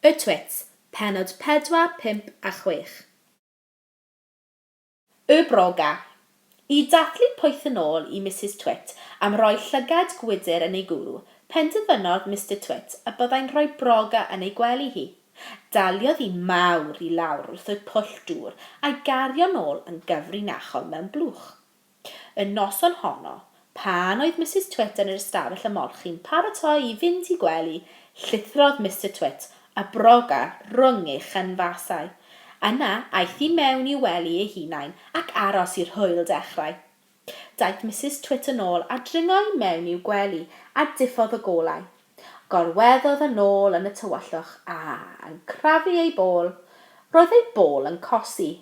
Y Twit, pennod 4, 5 a 6. Y Broga. I dathlu poeth yn ôl i Misus Twit am roi llygad gwydr yn ei gwrw, penderfynodd Mister Twit y byddai'n rhoi broga yn ei gwely hi. Daliodd hi mawr i lawr wrth y pwll dŵr a'i gario'n ôl yn gyfrinachol mewn blwch. Y noson honno, pan oedd Misus Twit yn yr ystafell ymolchi'n paratoi i fynd i gwely, llithrodd Mister Twit a broga rhwng ei chynfasau. Yna, aeth i mewn i'w wely ei hunain ac aros i'r hwyl dechrau. Daeth Misus Twit yn ôl a dringo i mewn i'w gwely a diffodd y golau. Gorweddodd yn ôl yn y tywyllwch a, yn crafu ei bol, roedd ei bol yn cosi.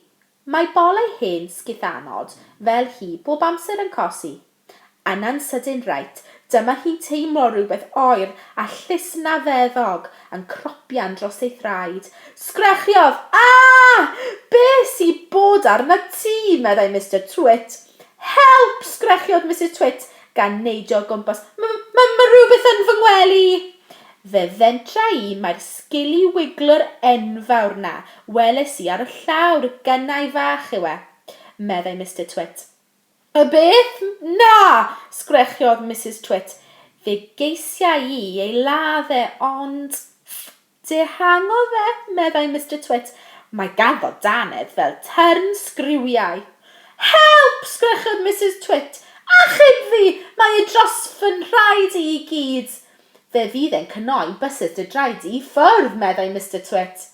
Mae bol ei hen sgithanod fel hi bob amser yn cosi. Yna'n sydyn reit, dyma hi'n teimlo rhywbeth oer a llusnafeddog yn cropian dros ei thraed. Sgrechiod! Aah! Be sy bod arnat ti? meddai Mister Twit. Help! sgrechiodd Misus Twit gan neidio o gwmpas, M- m- mae rhywbeth yn fy ngwely! Fe fentra i mai'r sgili wiglwr enfawr 'na weles i ar y llawr gynnau fach yw e, meddai Mister Twit. Y beth? Na! sgrechiodd Misus Twit. Fe geisiai i ei ladd e, ond. Dihangodd e, meddai Mister Twit. Mae ganddo dannedd fel tyrn sgriwiau. Help! sgrechodd Misus Twit. Achub fi! Mae e dros fy nhraed i i gyd! Fe fydd e'n cnoi bysys dy draed di i ffwrdd, meddai Mister Twit.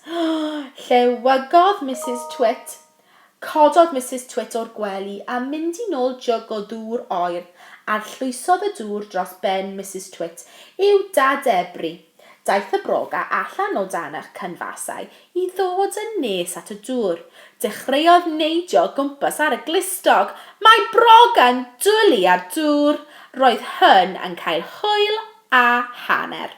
Llewygodd Misus Twit. Cododd Misus Twit o'r gwely a mynd i nôl jyg o ddŵr oer. Arllwysodd y dŵr dros ben Misus Twit i'w dadebru. Daeth y broga allan o dan y cynfasau i ddod yn nes at y dŵr. Dechreuodd neidio o gwmpas ar y glustog. Mae broga'n dwlu ar dŵr! Roedd hyn yn cael hwyl a hanner.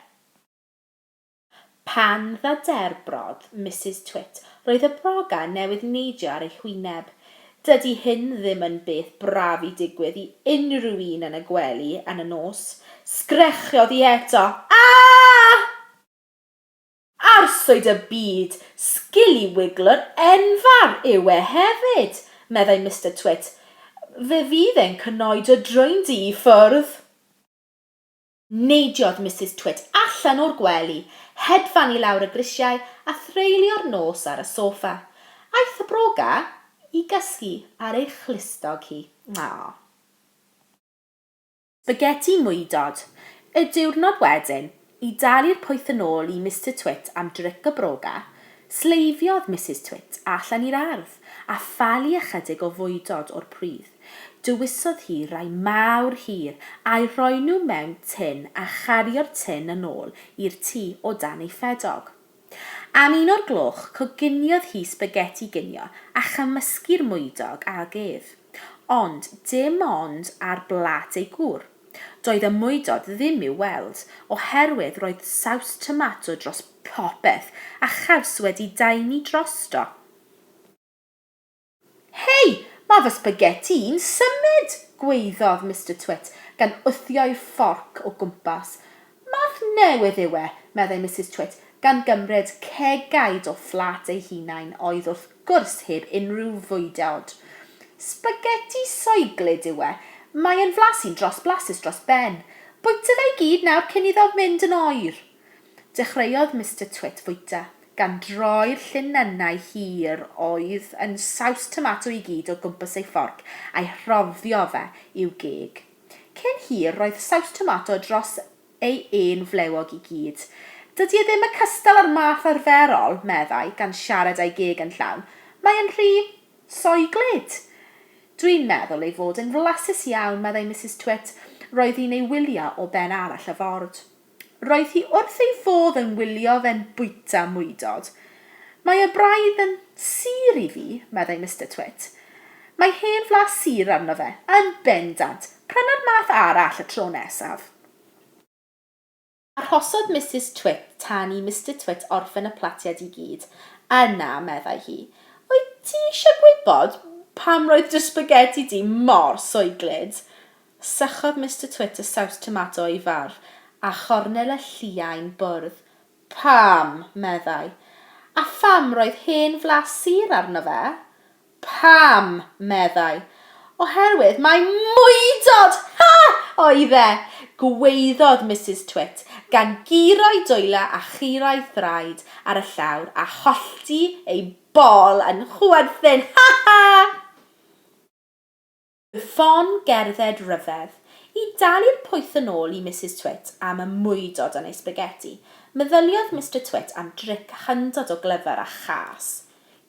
Pan ddaderbrodd Misus Twit roedd y broga newydd neidio ar ei hwyneb. Dydy hyn ddim yn beth braf i digwydd i unrhyw un yn y gwely yn y nos. Sgrechiodd hi eto, Aah! Arswyd y byd! Scilliwigglwr enfawr yw e hefyd! meddai Mister Twit. Fe fydd e'n cnoi dy droendi i ffwrdd! Neidiodd Misus Twit allan o'r gwely, hedfan i lawr y grisiau a threulio'r nos ar y soffa. Aeth y broga i gysgu ar ei chlustog hi. Aww. Sbageti mwydod. Y diwrnod wedyn, i dalu'r pwyth yn ôl i Mister Twit am dric y broga, sleifiodd Misus Twit allan i'r ardd a phalu ychydig o fwydod o'r pridd. Dewisodd hi rai mawr hir, a'u rhoi nhw mewn tun a chario'r tun yn ôl i'r tŷ o dan ei ffedog. Am un o'r gloch, coginiodd hi sbageti ginio a chymysgu'r mwydog ag ef. Ond dim ond ar blât ei gŵr. Doedd y mwydod ddim i'w weld, oherwydd roedd saws tomato dros popeth a chaws wedi daenu drosto. Hei! Mae fy sbageti i'n symud! gwaeddodd Mister Twit, gan wthio'i fforc o gwmpas. Math newydd yw e, meddai Misus Twit, gan gymryd cegaid o fflat ei hunain oedd wrth gwrs heb unrhyw fwydeod. Sbageti soeglyd yw e. Mae yn flasus dros blasus dros ben. Bwyta fe i gyd nawr cyn iddo fynd yn oer! Dechreuodd Mister Twit fwyta, gan droi'r llinynnau hir oedd yn saws tomato i gyd o gwmpas ei fforc a'i rhoddio fe i'w geg. Cyn hir, roedd saws tomato dros ei un flewog i gyd. Dydy e ddim y cystal â'r math arferol, meddai, gan siarad a'i geg yn llawn. Mae e'n rhy soiglyd. Dwi'n meddwl ei fod yn flasus iawn, meddai Misus Twit. Roedd hi'n ei wylio o ben arall y ford. Roedd hi wrth ei fodd yn wylio fe'n bwyta mwydod. Mae e braidd yn sur i fi, meddai Mister Twit. Mae hen flas sur arno fe, yn bendant! Pryna'r math arall y tro nesaf. Arhosodd Misus Twit tan i Mister Twit orffen y platiad i gyd. Yna, meddai hi, Wyt ti eisiau gwybod pam roedd dy sbageti di mor soeglyd? Sychodd Mister Twit y saws tomato o'i farf, a chornel y lliain bwrdd. Pam! meddai. A pham roedd hen flas sur arno fe? Pam! meddai. Oherwydd mai mwydod! Ha! oedd e! gwaeddodd Misus Twit, gan guro'i dwylo a chura'i thraed ar y llawr a hollti ei bol yn chwerthin. Ha! Ha! Ffon gerdded ryfedd. I dalu'r pwyth yn ôl i Misus Twit am y mwydod yn ei sbageti, meddyliodd Mister Twit am dric hyndod o glyfar a châs.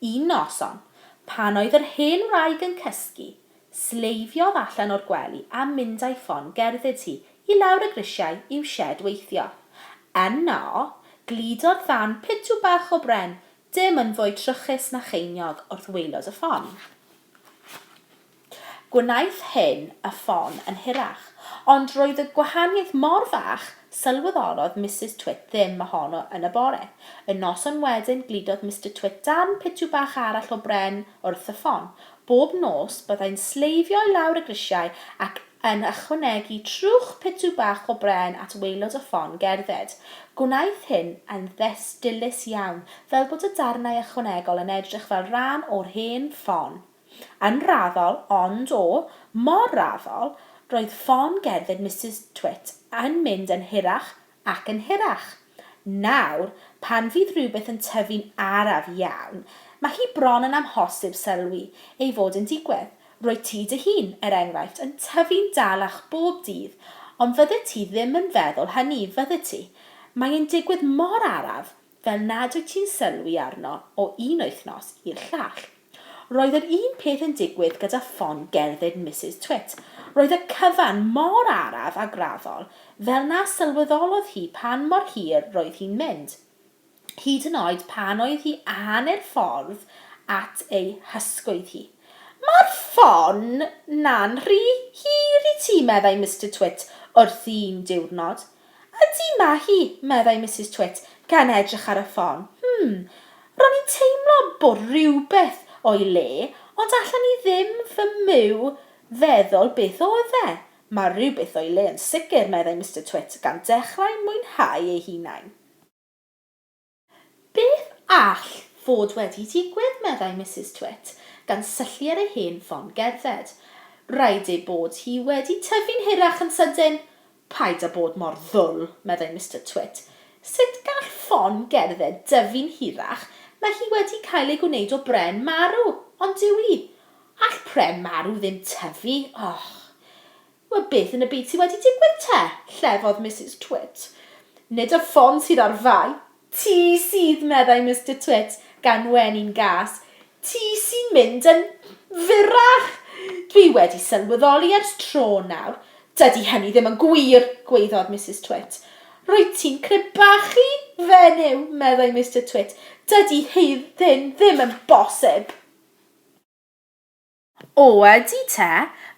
Un noson, pan oedd yr hen wraig yn cysgu, sleifiodd allan o'r gwely a mynd â'i ffon gerdded hi i lawr y grisiau i'w sied weithio. Yno, gludodd ddarn pitw bach o bren, dim yn fwy trwchus na cheiniog, wrth waelod y ffon. Gwnaeth hyn y ffon yn hirach, ond roedd y gwahaniaeth mor fach, sylweddolodd Misus Twit ddim ohono yn y bore. Y noson wedyn gludodd Mister Twit darn pitw bach arall o bren wrth y ffon. Bob nos, byddai'n sleifio i lawr y grisiau ac yn ychwanegu trwch pitw bach o bren at waelod y ffon gerdded. Gwnaeth hyn yn ddes dilys iawn, fel bod y darnau ychwanegol yn edrych fel rhan o'r hen ffon. Yn raddol, ond, o, mor raddol, roedd ffon gerdded Misus Twit yn mynd yn hirach Ac yn hirach. Nawr, pan fydd rhywbeth yn tyfu'n araf iawn, mae hi bron yn amhosib sylwi ei fod yn digwydd. Rwyt ti dy hun, er enghraifft, yn tyfu'n dalach bob dydd, ond fyddet ti ddim yn feddwl hynny, fyddet ti? Mae'n digwydd mor araf, fel nad wyt ti'n sylwi arno o un wythnos i'r llall. Roedd yr un peth yn digwydd gyda ffon gerdded Misus Twit, roedd y cyfan mor araf a graddol fel na sylweddolodd hi pan mor hir roedd hi'n mynd, hyd yn oed pan oedd hi hanner ffordd at ei hysgwydd hi. Mae'r ffon 'na'n rhy hir i ti, meddai Mister Twit wrthi un diwrnod. Ydy, mae hi, meddai Misus Twit, gan edrych ar y ffon. Hm, ro'n i'n teimlo bod rhywbeth o'i le, ond allan i ddim fy myw feddwl beth oedd e. Mae rhywbeth o'i le yn sicr, meddai Mister Twit, gan dechrau mwynhau eu hunain. Beth all fod wedi digwydd, meddai Misus Twit, gan syllu ar ei hen ffon gerdded. Rhaid ei bod hi wedi tyfu'n hirach yn sydyn. Paid â bod mor ddwl, meddai Mister Twit. Sut gall ffon gerdded dyfu'n hirach, mae hi wedi cael ei gwneud o bren marw, ond dyw hi. All pren marw ddim tyfu, och! Wel, beth yn y byd sy wedi digwydd te? llefodd Misus Twit. Nid y ffon sydd ar fai. Ti sydd, meddai Mister Twit, gan wne'n gas. Ti sy'n mynd yn fyrrach! Dwi wedi sylweddoli ers tro nawr. Dydy hynny ddim yn gwir! gwaeddodd Misus Twit. Rwyt ti'n crebachu fenyw, meddai Mister Twit. Dydy hyn ddim yn bosib! O, ydy te,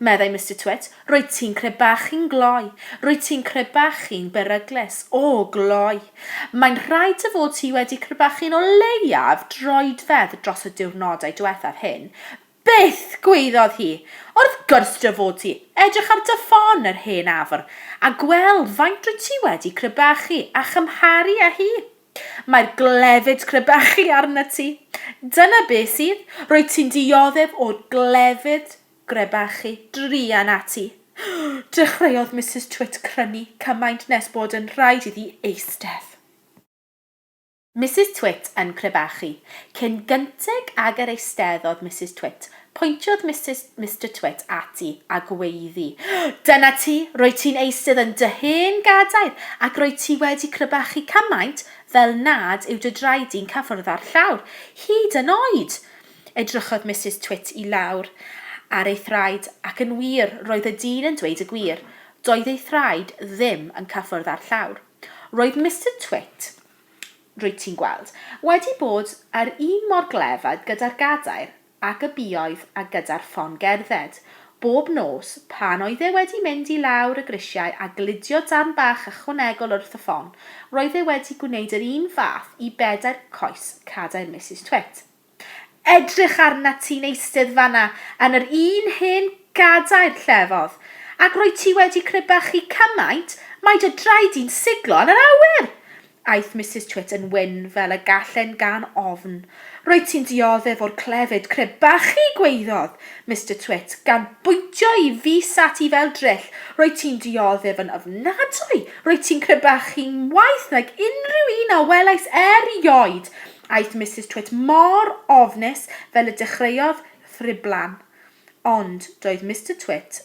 meddai Mister Twit, rwyt ti'n crebachu'n gloi, rwyt ti'n crebachu'n beryglus, o, gloi. Mae'n rhaid dy fod ti wedi crebachu'n o leiaf droedfedd dros y diwrnodau diwethaf hyn. Byth! gwaeddodd hi. Wrth gwrs dy fod ti! Edrych ar dy ffon, yr hen afr, a gweld faint rwyt ti wedi crebachu, a chymharu â hi. Mae'r glefyd crebachu arnat ti. Dyna beth sydd, rwyt ti'n dioddef o'r glefyd grebachu druan ati. Dechreuodd Misus Twit crynu cymaint nes bod yn rhaid iddi eistedd. Misus Twit yn crebachu. Cyn gynted ag yr eisteddodd Misus Twit, Pointiodd Misus, Mister Twit ati a gweiddi, Dyna ti, roedd ti'n eisydd yn dy hen gadair, ac roedd ti wedi crybachu cymaint fel nad yw dy draed di'n cyffwrdd â'r llawr, hyd yn oed! Edrychodd Misus Twit i lawr ar ei thraed, ac yn wir, roedd y dyn yn dweud y gwir, doedd ei thraed ddim yn cyffwrdd â'r llawr. Roedd Mister Twit, rwyt ti'n gweld, wedi bod yr un mor glefyd gyda'r gadair ac y buodd a gyda'r ffon gerdded, bob nos, pan oedd e wedi mynd i lawr y grisiau a gludio darn bach ychwanegol wrth y ffon, roedd e wedi gwneud yr un fath i bedair coes cadair Misus Twit. Edrych arnat ti'n eistedd fan'na yn yr un hen gadair, llefodd, ac rwyt ti wedi crebachu cymaint mai dy draed di'n siglo yn yr awyr! Aeth Misus Twit yn wyn fel y gall e'n gan ofn. Rwyt ti'n dioddef o'r clefyd crebachu, gwaeddodd Mister Twit, gan bwyntio'i fys ati fel dryll. Rwyt ti'n dioddef yn ofnadwy! Rwyt ti'n crebachu'n waeth nag unrhyw un a welais erioed! Aeth Misus Twit mor ofnus fel y dechreuodd ddriblan. Ond doedd Mister Twit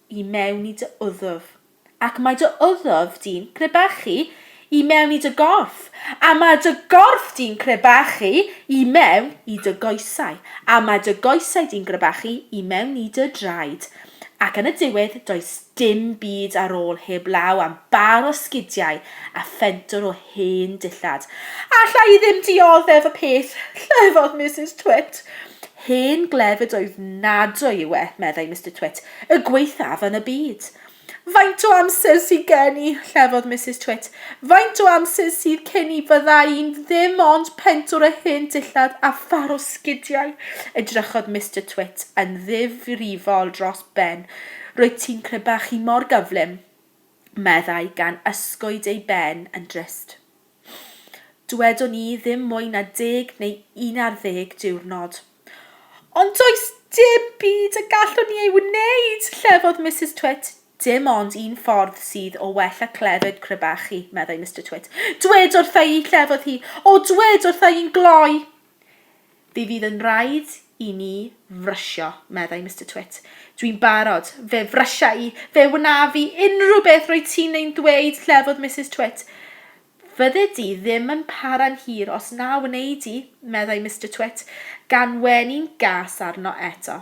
i mewn i dy wddf, ac mae dy wddf di'n crebachu i mewn i dy gorff, a mae dy gorff di'n crebachu i mewn i dy goesau, a mae dy goesau di'n grebachu i mewn i dy draed, ac yn y diwedd does dim byd ar ôl heb law am bar o sgidiau a phentwr o Hen dillad. Alla i ddim dioddef y peth, llefodd Misus Twit. Hen glefyd oedd nadwy yw e, meddai Mister Twit, y gwaethaf yn y byd. Faint o amser sydd gen i, llefodd Misus Twit. Faint o amser sydd cyn i fydda i'n ddim ond pentwr o hen dillad a phar o sgidiau? Edrychodd Mister Twit yn ddifrifol dros ben. Rwyt ti'n crebachu mor gyflym. meddai gan ysgwyd ei ben yn drist. Dwedwn i ddim mwy na deg neu un ar ddeg diwrnod. Ond does dim byd y gallwn ni ei wneud, llefodd Misus Twit. Dim ond un ffordd sydd o well a clefyd crybachu, meddai Mister Twit. Dwed wrtha i, llefodd hi. O, dwed wrtha i'n gloi! Fe fydd yn rhaid i ni frysio, meddai Mister Twit. Dwi'n barod. Fe frysia i. Fe wnaf i unrhyw beth roedd ti'n ein ddweud, llefodd Misus Twit. Fydde di ddim yn para'n hir os na wnei di, meddai Mister Twit, gan wenu'n gas arno eto.